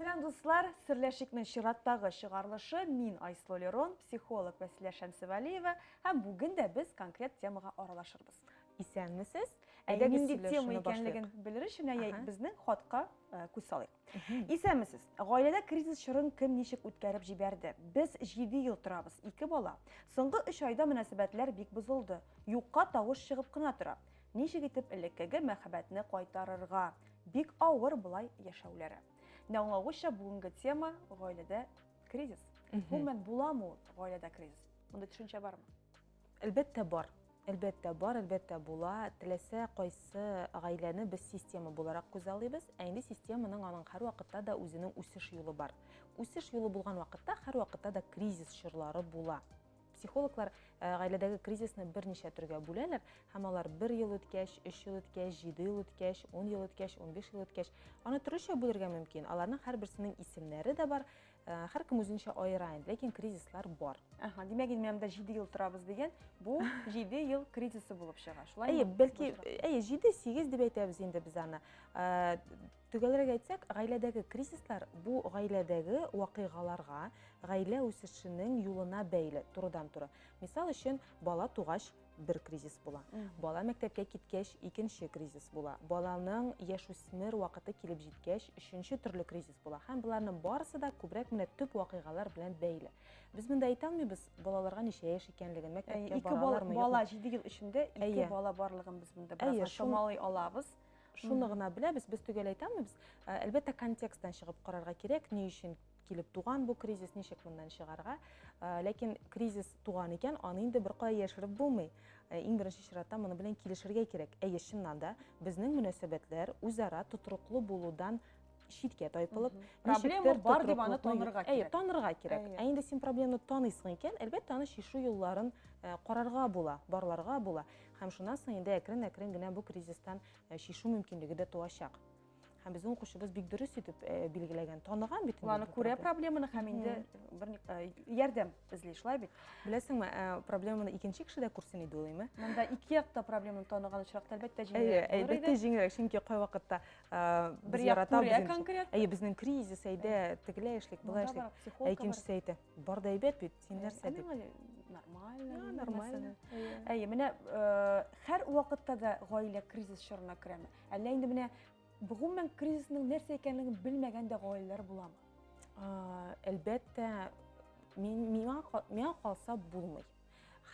Сәлам дуслар! Серләшикнең чираттагы чыгарылышы мин Айслу Лерон, психолог Вәсилә Шәмсевәлиева һәм бүген дә без конкрет темага аралашырбыз. Исәнмесез! Әйдәгез Әйдәгез нинди сөйләшүне тема башлыйк. икәнлеген белер өчен әйе, Ага. безнең хатка э, күз салыйк. Исәнмесез! Гаиләдә кризис чорын кем ничек үткәреп җибәрде? Без җиде ел торабыз, ике бала. Соңгы өч айда мөнәсәбәтләр бик бозылды. Юкка тавыш чыгып кына тора. Ничек итеп элеккеге мәхәббәтне кайтарырга? Бик авыр болай яшәүләре. Менә аңлагуча бүгенге тема гаиләдә кризис. Гомумән буламы ул гаиләдә кризис? Мондый төшенчә бармы? Әлбәттә бар. Әлбәттә бар, әлбәттә була. Теләсә кайсы гаиләне без система буларак күзә алыйбыз. Ә инде системаның аның һәрвакытта да үзенең үсеш юлы бар. Үсеш юлы булган вакытта һәрвакытта да кризис чорлары була. Психологлар э, гаиләдәге кризисны берничә төргә бүләләр һәм алар бер ел үткәч, өч ел үткәч, җиде ел үткәч, ун ел үткәч, унбиш ел үткәч, аны төрлечә бүлергә мөмкин. Аларның һәрберсенең исемнәре дә бар, э, һәркем үзенчә аера инде, ләкин кризислар бар. Ага, димәк, инде җиде ел торабыз дигән, бу җиде ел кризисы булып чыга. Шулай Әйе, бәлки, әйе, җиде, сигез дип әйтәбез инде без аны. Э, Төгәлрәк әйтсәк, гаиләдәге кризислар бу гаиләдәге вакыйгаларга, гаилә үсешенең юлына бәйле турыдан-туры. Мисал өчен, бала тугач бер кризис була. Бала мәктәпкә киткәч икенче кризис була. Баланың яшүсмер вакыты килеп җиткәч өченче төрле кризис була. Һәм боларның барысы да күбрәк менә төп вакыйгалар белән бәйле. Без монда әйтә алмыйбыз балаларга ничә яшь икәнлеген, мәктәпкә баралармы, юкмы. Ике бала 7 ел эчендә ике бала барлыгын без монда бераз чамалый алабыз. Шуны гына беләбез, без төгәл әйтәмебез. Ә, әлбәттә, контексттан чыгып карарга кирәк, ни өчен килеп туган бу кризис, ничек моннан чыгарга. Ә, ләкин кризис туган икән, аны инде беркая яшереп булмый. Ә, иң беренче чиратта моны белән килешергә кирәк. Әйе, чыннан да, безнең мөнәсәбәтләр үзара тотрыклы булудан читкә тайпылып проблема бар дип аны танырга кирәк әйе танырга кирәк ә инде син проблеманы таныйсың икән әлбәттә аны чишү юлларын э, карарга була барларга була һәм шуннан соң инде әкрен әкрен генә бу кризистан э, чишү мөмкинлеге дә туачак һәм безнең укучыбыз бик дөрес итеп э, билгеләгән таныган бит ул аны күрә проблеманы һәм инде бер ярдәм эзли шулай бит беләсеңме проблеманы икенче кеше дә күрсен иде уйлыйм монда ике якта проблеманы таныган очракта әлбәттә җиңелрәк әлбәттә җиңелрәк чөнки кайвакытта бер як күрә конкрет әйе безнең кризис әйдә тегеләй эшлик болай эшлик ә икенчесе әйтә бар да әйбәт бит син нәрсә дип нормально нормально әйе менә һәр вакытта да гаилә кризис чорына керәме әллә инде менә гомумән кризисның нәрсә икәнлеген белмәгән дә гаиләләр буламы әлбәттә миңа миңа калса булмый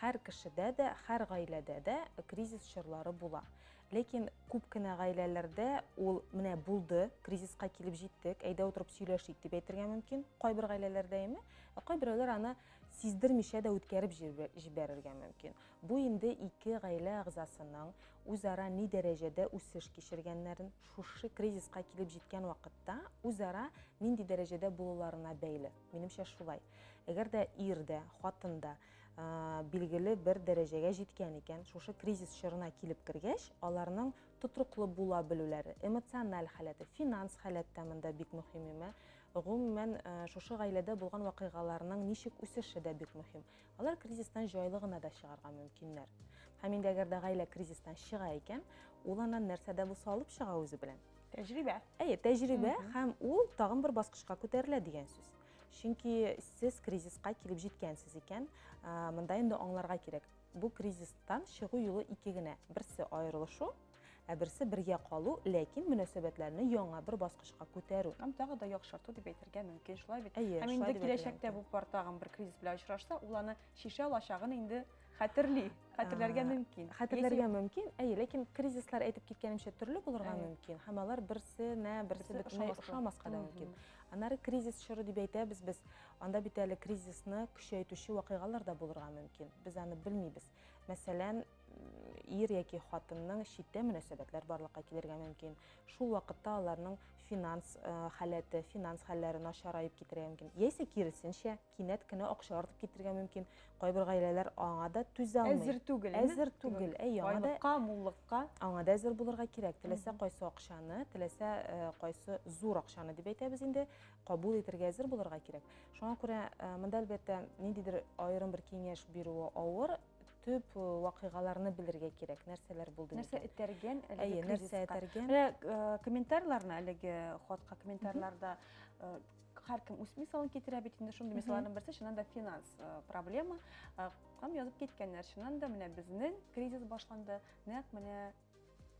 Хәр кешедә дә, хәр гаиләдә дә кризис чорлары була. Ләкин күп кенә гаиләләрдә ул менә булды, кризиска килеп җиттек, әйдә утырып сөйләшик дип әйтергә мөмкин. Кайбер гаиләләрдә име, ә кайберәүләр аны сиздермичә дә үткәреп җибәрергә мөмкин. Бу инде ике гаилә әгъзасының үзара ни дәрәҗәдә үсеш кичергәннәрен, шушы кризиска килеп җиткән вакытта үзара нинди дәрәҗәдә булуларына бәйле. Минемчә шулай. Әгәр дә ир дә, хатын да билгеле бер дәрәҗәгә җиткән икән, шушы кризис чорына килеп кергәч, аларның тотрыклы була белүләре, эмоциональ халәте, финанс халәт тә монда бик мөһим имә. Гомумән, шушы гаиләдә булган вакыйгаларның ничек үсеше дә бик мөһим. Алар кризистан җайлы гына да чыгарга мөмкиннәр. Һәм инде әгәр дә гаилә кризистан чыга икән, ул аннан нәрсә дә булса алып чыга үзе белән. Тәҗрибә. Әйе, тәҗрибә һәм ул тагын бер баскычка күтәрелә дигән сүз. Чөнки сез кризиска килеп җиткәнсез икән, монда инде аңларга кирәк, бу кризистан чыгу юлы ике генә. Берсе аерылышу, ә берсе бергә калу, ләкин мөнәсәбәтләрне яңа бер баскычка күтәрү. Һәм тагы да яхшырту дип әйтергә мөмкин, шулай бит? Әйе, Һәм инде киләчәктә бу пар тагын бер кризис белән очрашса, ул аны чишә алачагын инде хәтерли, хәтерләргә мөмкин. Хәтерләргә мөмкин, әйе, ләкин кризислар әйтеп киткәнемчә төрле булырга мөмкин, һәм алар берсенә берсе бөтенләй ошамаска да мөмкин. Аннары кризис чоры дип әйтәбез без, анда бит әле кризисны көчәйтүче вакыйгалар да булырга мөмкин. Без аны белмибез. Мәсәлән, ир яки хатынның читтә мөнәсәбәтләр барлыкка килергә мөмкин. Шул вакытта аларның финанс э, халәте, финанс хәлләре начараеп китергә мөмкин. Яисә киресенчә, кинәт кенә акча артып китергә мөмкин. Кайбер гаиләләр аңа да түзә алмый. Әзер түгел. Әзер түгел. Әй, аңа да байлыкка, муллыкка. Аңа да әзер булырга кирәк. Теләсә кайсы акчаны, теләсә э, кайсы зур акчаны дип әйтәбез инде, кабул итәргә әзер булырга кирәк. Шуңа күрә э, монда әлбәттә ниндидер аерым бер киңәш бирүе авыр, төп вакыйгаларны белергә кирәк, нәрсәләр булды Нәрсә микән? этәргән әлеге Әйе, нәрсә кризиска? этәргән? Менә э, комментарийларны әлеге хатка комментарийларда э, һәркем үз мисалын китерә бит инде шундый мисалларның берсе чыннан да финанс э, проблема Э, һәм язып киткәннәр чыннан да менә безнең кризис башланды нәкъ менә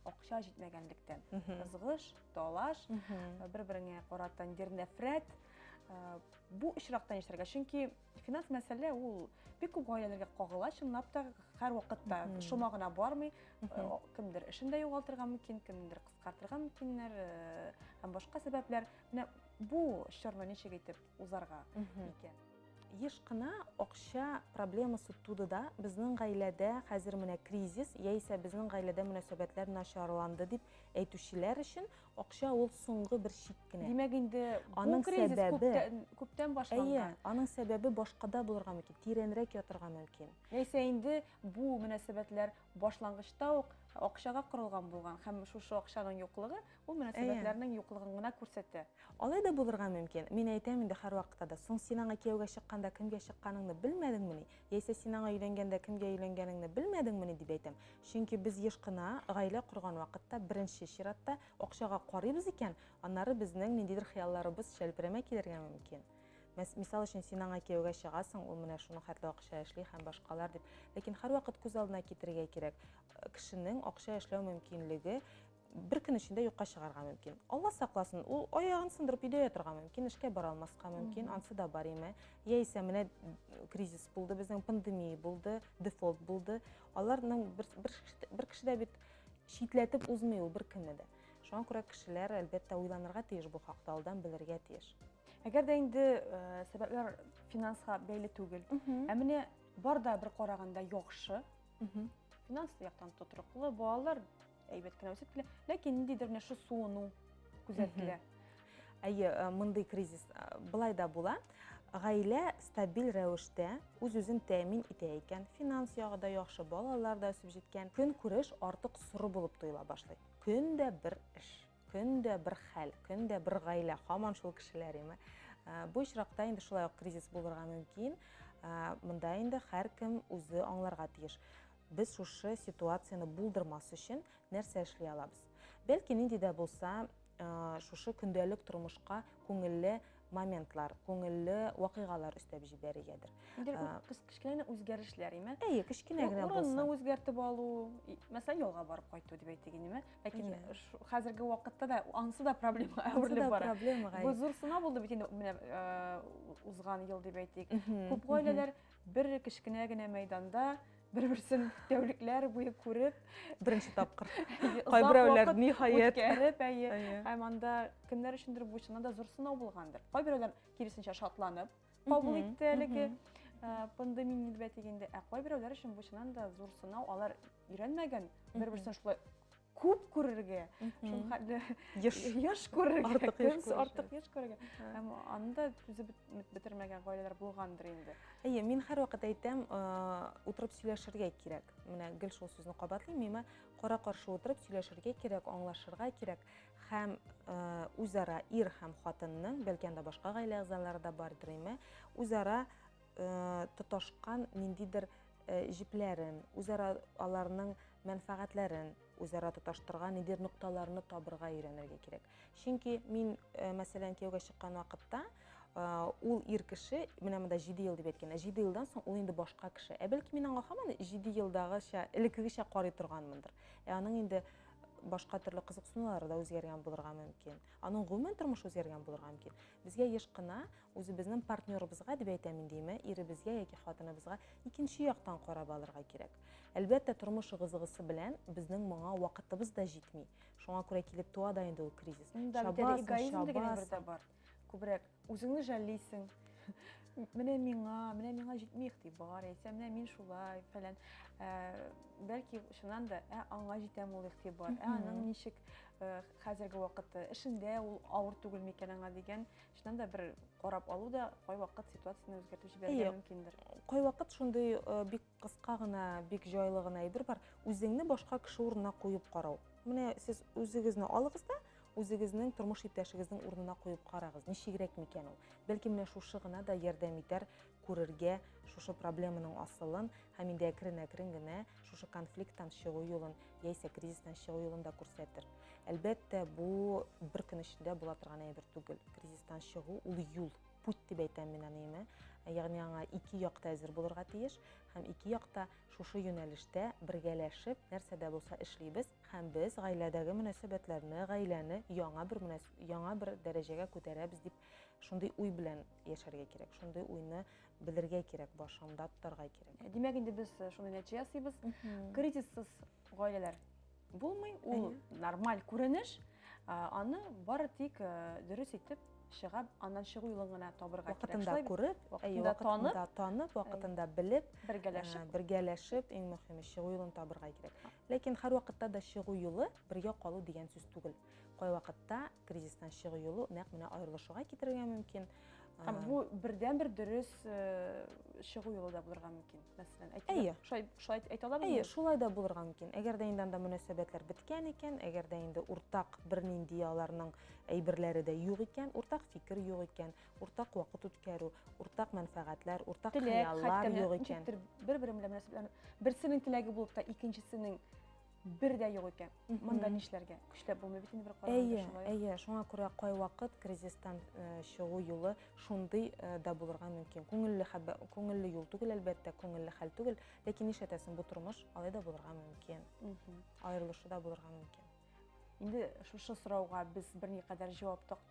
акча җитмәгәнлектән ызгыш талаш бер береңә карата нидер нәфрәт бу очракта нишләргә чөнки финанс мәсьәлә ул бик күп гаиләләргә кагыла чынлап та һәрвакытта шома гына бармый кемдер эшен дә югалтырга мөмкин кемдер кыскартырга мөмкиннәр һәм башка сәбәпләр менә бу чорны ничек итеп узарга икән. Еш кына акча проблемасы туды да, безнең гаиләдә хәзер менә кризис, яисә безнең гаиләдә мөнәсәбәтләр начарланды дип әйтүчеләр өчен акча ул соңгы бер чик кенә. Димәк инде бу кризис күптән, күптән башланган. Әйе, аның сәбәбе башкада булырга мөмкин, тирәнрәк ятырга мөмкин. Яисә инде бу мөнәсәбәтләр Башлангычта ук акчага корылган булган һәм шушы акчаның юклыгы ул мөнәсәбәтләрнең юклыгын гына күрсәтә. Алай да булырга мөмкин. Мин әйтәм инде һәрвакытта да, соң син аңа кияүгә чыкканда кемгә чыкканыңны белмәдеңмени? Яисә син аңа өйләнгәндә кемгә өйләнгәнеңне белмәдеңмени? дип әйтәм. Чөнки без еш кына, гаилә корган вакытта, беренче чиратта акчага карыйбыз икән, аннары безнең ниндидер хыялларыбыз чәлперәмә килергә мөмкин. Мисал өчен, син аңа кияүгә чыгасың, ул менә шуның хәтле акча эшли һәм башкалар дип. Ләкин һәрвакыт күз алдына китерергә кирәк, кешенең акча эшләү мөмкинлеге бер көн эчендә юкка чыгарга мөмкин. Алла сакласын, ул аягын сындырып өйдә ятырга мөмкин, эшкә бара алмаска мөмкин, ансы да бар име. Яисә менә кризис булды, безнең пандемия булды, дефолт булды. Аларның бер, бер, бер кеше дә бит читләтеп узмый ул беркемне дә. Шуңа күрә кешеләр, әлбәттә, уйланырга тиеш бу хакта, алдан белергә тиеш. Әгәр дә инде э, сәбәпләр финансга бәйле түгел. Ә менә бар да бер караганда яхшы. Финанс яктан тотрыклы, балалар әйбәт кенә үсеп килә, ләкин ниндидер менә шу суыну күзәтелә. Әйе, э, мондый кризис э, былай да була. Гаилә стабиль рәвештә үз-үзен тәэмин итә икән, финанс ягы да яхшы, балалар да үсеп җиткән, көн күреш артык соры булып тоела башлый. Көн дә бер эш. Көн дә бер хәл, көн дә бер гаилә, хаман шул кешеләр име. Э, бу очракта инде шулай ук кризис булырга мөмкин. Э, монда инде һәркем үзе аңларга тиеш. Без шушы ситуацияне булдырмас өчен нәрсә эшли алабыз? Бәлки нинди дә булса, э, шушы көндәлек тормышка күңелле моментлар, күңелле вакыйгалар өстәп җибәрергәдер. Инде кечкенә генә үзгәрешләр, име? Әйе, кечкенә генә булса. Урынны үзгәртеп алу, мәсәлән, ялга барып кайту дип әйтик инде, ләкин хәзерге вакытта да ансы да проблема әверелеп бара. Бу зур сынау булды бит инде менә узган ел дип әйтик. Күп гаиләләр Бер кечкенә генә мәйданда бер-берсен тәүлекләр буе күреп, беренче тапкыр. Кайберәүләр ниһаять үткәреп, әйе. Һәм анда кемнәр өчендер бу чыннан да зур сынау булгандыр. Кайберәүләр киресенчә шатланып кабул итте әлеге пандемия нәүбәте дигәндә, ә кайберәүләр өчен бу чыннан да зур сынау. Алар өйрәнмәгән, бер-берсен шулай күп күрергә шул хәтле еш еш күрергә артык еш артык еш күрергә һәм аны да түзеп бетермәгән гаиләләр булгандыр инде әйе мин һәрвакыт әйтәм утырып сөйләшергә кирәк менә гел шул сүзне кабатлыйм миңа кара каршы утырып сөйләшергә кирәк аңлашырга кирәк һәм үзара ир һәм хатынның бәлки анда башка гаилә әгъзалары да бардыр име үзара тоташкан ниндидер җепләрен, үзара аларның мәнфәгатьләрен үзара тоташтырган ниндидер нокталарны табырга өйрәнергә кирәк. Чөнки мин, мәсәлән, кияүгә чыккан вакытта, ул ир кеше, менә монда 7 ел дип әйткәндә, 7 елдан соң ул инде башка кеше. Ә бәлки мин аңа һаман 7 елдагыча, элеккегечә карый торганмындыр. Ә аның инде башка төрле кызыксынулары да үзгәргән булырга мөмкин. Аның гомумән тормышы үзгәргән булырга мөмкин. Безгә еш кына Үзебезнең партнерыбызга дип әйтәм инде имә, иребезгә яки хатыныбызга икенче яктан карап алырга кирәк. Әлбәттә, тормыш ыгы-зыгысы белән безнең моңа вакытыбыз да җитми. Шуңа күрә килеп туа да инде ул кризис. Чабасың, чабасың. Күбрәк үзеңне жәллисең. Менә миңа, менә миңа җитми игътибар, яисә менә мин шулай, фәлән. Э, бәлки шуннан да, ә аңа җитәм ул игътибар, ә аның ничек э, хәзерге вакытта эшендә ул авыр түгел микән аңа дигән Чыннан да бер карап алу да кайвакыт ситуацияне үзгәртеп җибәрергә мөмкиндер. Кайвакыт шундый э, бик кыска гына, бик җайлы гына әйбер бар. Үзеңне башка кеше урынына куеп карау. Менә сез үзегезне алыгыз да, үзегезнең тормыш иптәшегезнең урынына куеп карагыз, ничегрәк микән ул? Бәлки менә шушы гына да ярдәм итәр күрергә шушы проблеманың асылын һәм инде әкрен-әкрен генә шушы конфликттан чыгу юлын яисә кризистан чыгу юлын да күрсәтер. Әлбәттә, бу бер көн эчендә була торган әйбер түгел. Кризистан чыгу ул юл, путь дип әйтәм мин аны име. Ягъни аңа ике якта әзер булырга тиеш һәм ике якта шушы юнәлештә бергәләшеп нәрсә дә булса эшлибез һәм без гаиләдәге мөнәсәбәтләрне, гаиләне яңа бер яңа бер дәрәҗәгә күтәрәбез дип Шундый уй белән яшәргә кирәк, шундый уйны белергә кирәк, башында тотарга кирәк. Ә, димәк, инде без э, шундый нәтиҗә ясыйбыз. Кризиссыз гаиләләр булмый, ул нормаль күренеш. Аны бары тик э, дөрес итеп чыгап, аннан чыгу юлын гына табырга кирәк. Вакытында күреп, вакытында танып, танып, вакытында белеп, бергәләшеп, бергәләшеп, иң мөһиме чыгу юлын табырга кирәк. Ләкин һәрвакытта да чыгу юлы бергә калу дигән сүз түгел. Кайвакытта кризистан чыгу юлы нәкъ менә аерылышуга китерергә мөмкин. Һәм бу бердән бер дөрес чыгу юлы да булырга мөмкин. Мәсәлән, әйтегез, шулай шулай әйтә алабызмы? Әйе, шулай да булырга мөмкин. Әгәр дә инде анда мөнәсәбәтләр беткән икән, әгәр дә инде уртак бернинди аларның әйберләре дә юк икән, уртак фикер юк икән, уртак вакыт үткәрү, уртак мәнфәгатьләр, уртак хыяллар юк икән. Бер-бер белән мөнәсәбәтләр берсенең теләге булып та икенчесенең бер дә юк икән. Монда нишләргә? Көчләп булмый бит инде бер караганда шулай. Әйе, әйе, шуңа күрә кайвакыт кризистан э, чыгу юлы шундый э, да булырга мөмкин. Күңелле хәбә, күңелле юл түгел әлбәттә, күңелле хәл түгел, ләкин нишләтәсең, бу тормыш алай да булырга мөмкин. Аерылышу да булырга мөмкин. Инде шушы сорауга без берникадәр җавап таптык.